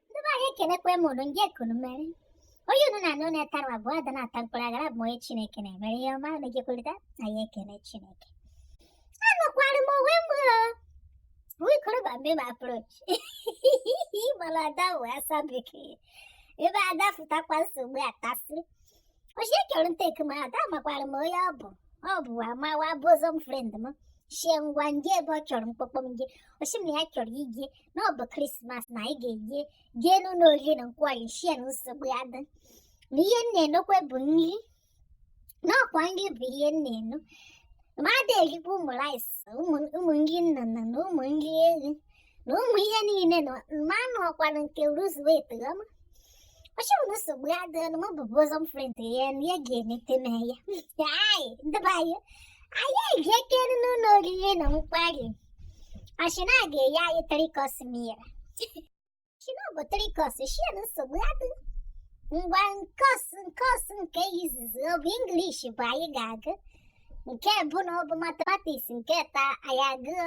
ndị be anyị ekenekwa m ụnụ ndị ekunu mere onye unu na anụ na-etara abụọ ada na-ata mkpụrụ aghara abụ onye chineke na-emere ihe ọma unu gekwurịta anyị ekene chineke anọkwara m onwe m wikoroba mgbe m approach mana ada wee asụ bekee ebe ada sụtakwa nsogbu atasị o shi ọ chọrọ ntake m out amakwara m onye ọ bụ ọ bụ amawa bosom friend m shie ngwa nje ebe ọ chọrọ mkpọkpọ m je o si m na ya chọrọ ije na ọ bụ krismas na anyị ga-eje jee n'ụlọ oriri na nkwari shie na nsogbu adịa na ihe m na-enokwa bụ nri na ọkwa nri bụ ihe m na-eno ma ada erikwa ụmụ rice ụmụ ụmụ nri nnụnụ na ụmụ nri ehi na ụmụ ihe niile na mmanụ ọkwara nke lose weight ọma ọ shị m na nsogbu adịa na mụ bụ bosom friend ya na ya ga-enete m anya ndị be anyị anyị ga-ekere n'ụlọ oriri na nkwari ọ shị na a ga-enye anyị three course meal shie na ọ bụ three course shie na nsogbu adịa ngwa course course nke izizi ọ bụ English bụ anyị ga-agụ nke abụọ na ọ bụ mathematics nke atọ anyị agụọ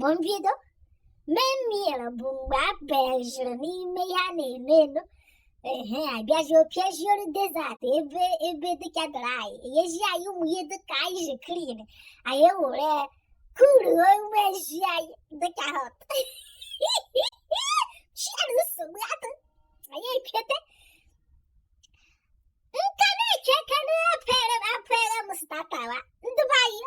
bụ mbido main meal bụ mgbe a bịaziri n'ime ihe a na-eme elu ehe abịazi opiaziolu desert ebe ebe dịka dry enyezi anyị ụmụ ihe dịka ice cream anyị ewere kuru onwe ezi anyị dịka hot shie na nsogbu adịa anyị epiete nka na-eke aka na a pere a pere m starter ndị be anyị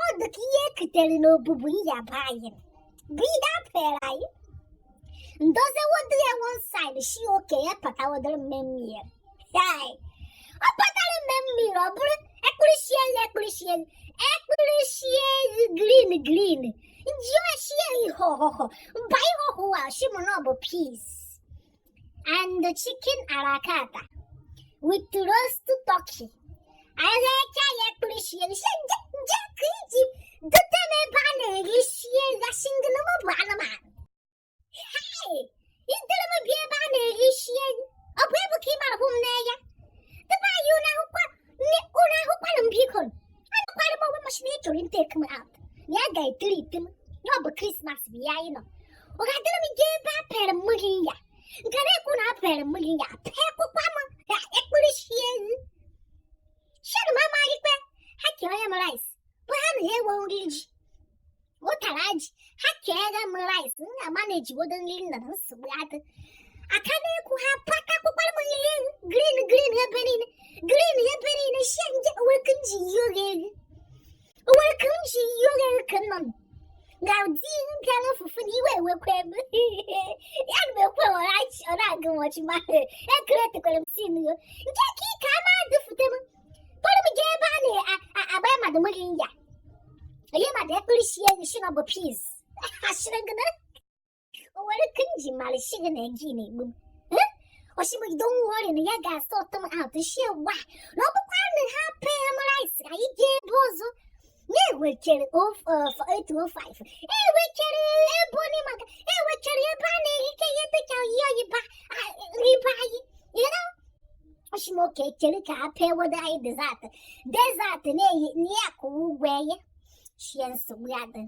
Ọ dị ka ihe e kutere n'obubu iyi be anyị. Bịa pere anyị. Ndozi wodo ya one side shi okay ya pata wodoro m main meal. Hai. Ọ patara main meal ọ bụrụ akpụrụ nsị ewu akpụrụ nsị ewu akpụrụ nsị ewu green green. M jụọ shi ihe ọhụhụ. Mba ihe ọhụhụ a shi mụ na ọ bụ peas. and the chicken à la carte with roast turkey. Anaghịcha ya akpụrụ nsị ewu nje nje ka i ji dote m ebe a na-eri nsị ewu ya shi gịnị m bụ anụmanụ. Hei! I duru m bịa ebe a na-eri nsị ewu ọ bụ ebu ka ị mara hụ m n'anya. Ndị be anyị na-ahụkwa ọra ahụkwanụ m biko anọkwara m onwe m a si m na a chọrọ ntake m out ya ga-atreat m na ọ bụ krismas bụ ya anyị nọ ọ gaa duru m jee ebe a pere m ụrịa nke na-ekwu na a pere m ụrịa pee kwụkwa m ka akpụrụ nsị ewu shi na m amaghị ikpe ha ka e nye m rice bụ ha na ha enwe nri ji ụtara ji ha keere m rice m ga-ama na ejiwodo nri nna na nsogbu adị aka na-ekwu ha pata kpụkwara m nri elu green green ebe niile green ebe niile shie nje oweke m ji yi oge elu oweke m ji yi oge elu ka nọ ga-adị mpịara fufu na iwe ewekwa ebe ya na ekwe ọra agụ nwọchi ma ekere tekwere m si nyo nke ka ike a na-adụfute m kpọrọ m jee ebe a na-agba ya mmadụ mmiri ya onye mmadụ ekpere sie enyi si na ọ bụ piz asịrị gị na o nwere ike m ji mara si gị na gị na-egbu m osimiri don't worry na ya ga-asort m out sie gba na ọ bụkwa na ha pee m rice ka anyị jee ebe ọzọ na-ewechere 805 ewechere ebe onye maka ewechere ebe a na-ehike ihe dịka oyi oyiba riba anyị ọ sị m okay chere ka a bịa weta anyị dessert dessert na-eyi na ya kụwa ụgwọ ya shie nsogbu adị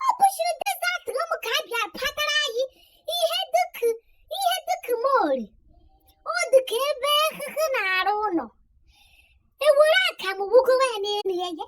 ọ bụchiri dessert ụmụaka bịa patara anyị ihe dịka ihe dịka mori ọ dịka ebe ahụhụ na-arụ ụlọ ewere akamụ wugowa ya n'elu ya ya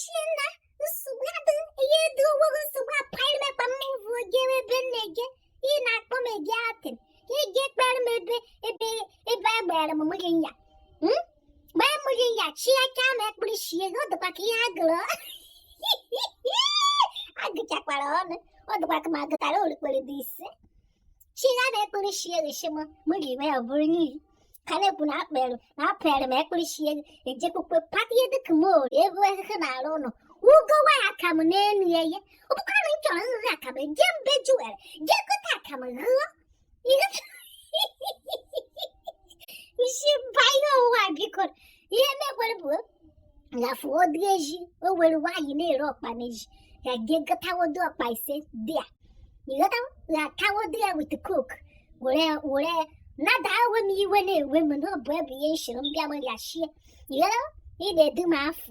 Shi ya na nsogbu adịghị ihe dị ogbogo nsogbu apụghị mekpa m ụvụ oge ebe m na-ege ị na-akpọ m ege atị ị ga-ekpere m ebe ebe ebe a gbara m mụghị ya mgbe m mụghị ya chi aka m ekpere shie ọ dịkwa ka ihe agụrụ agụchakwara ọnụ ọ dịkwa ka m agụtara orikpere dị ise chi ya na ekpere shi ya gị shi m m ga-eme ya bụrụ n'ihi ka na-ekwu na akpere na apere m ekpere shi ya ejekwukwa pata ihe dịka mori ebe ezike na-arụ ụlọ ugowa ya akamụ n'elu ya ihe ọ bụkwara na m chọrọ nri akamụ jee mbe juwere jee gote akamụ ghụọ ihe isi mba ihe ụwa biko ihe mekwere bụ na fụọdụ eji o nwere nwaanyị na-ere ọkpa n'eji ya gị gọtawodo ọkpa ise dị ya ị gọta ya tawodo ya with Coke were were nada ewe m iwe na-ewe m na ọ bụ ebe ihe nshiri m bịa gbaghachie ịghọta ị na-edu m afọ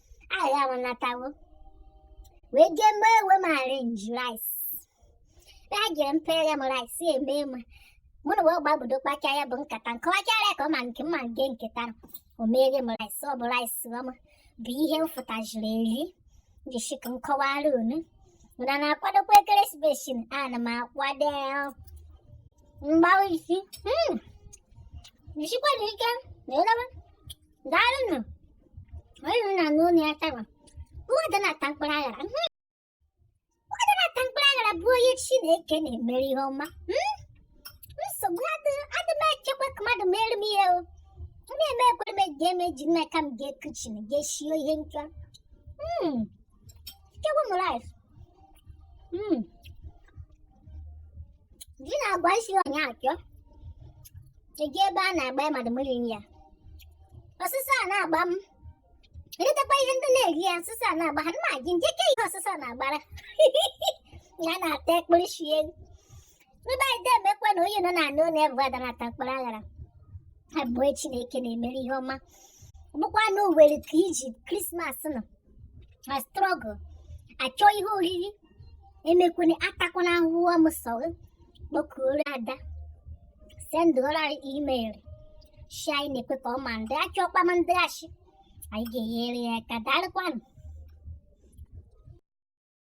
anyị anatawo wee jee mee ewe m arrange rice ya jiri mpere m rice eme ma mụ na wee gbabudo kpacha ya bụ nkata nke ọchara ya ka ọ ma nke mma nke nketa o meere m rice ọ bụ rice ọma bụ ihe m fụtajiri eri jishie ike m kọwara unu na na-akwadokwa ekeresimesi ana m akwado mgbawa isi jisikwanụ ike na elebe daalụ nụ onye nọ na n'ụlọ ya tawa ụwadị na-ata mkpụrụ aghara ụwadị na-ata mkpụrụ aghara bụ onye chineke na-emere ihe ọma nsogbu adị m echekwa ka mmadụ mere m ihe o na-eme ekwere m eji eme ji n'aka m ga-ekuchiri ga-eshio ihe nchọ Chọghị m rice. Mmm. Ji na-agbasi onye ike? Ji bụ na-agba mmadụ mmiri anya. Ọsụsọ na-agba m. Ndị takwa ihe ndị na-eri ya ọsụsọ na-agba ha ma gị nje ke ihe ọsụsọ na-agbara. Ya na-ata ekpuru shie. Ndị anyị emekwa na onye nọ na anụ ụlọ ụwadị na-ata mkpụrụ aghara bụ onye Chineke na-emere ihe ọma bụkwanụ owere ka iji Christmas nọ na struggle achọ ihe oriri emekwana atakwana ahụhụ ọmụsọ gị kpọkuoro ada sendụrụ anyị email shi anyị na-ekwe ka ọ ma ndị achọ ọkpama ndị achị anyị ga-enyere ya aka daalụkwanụ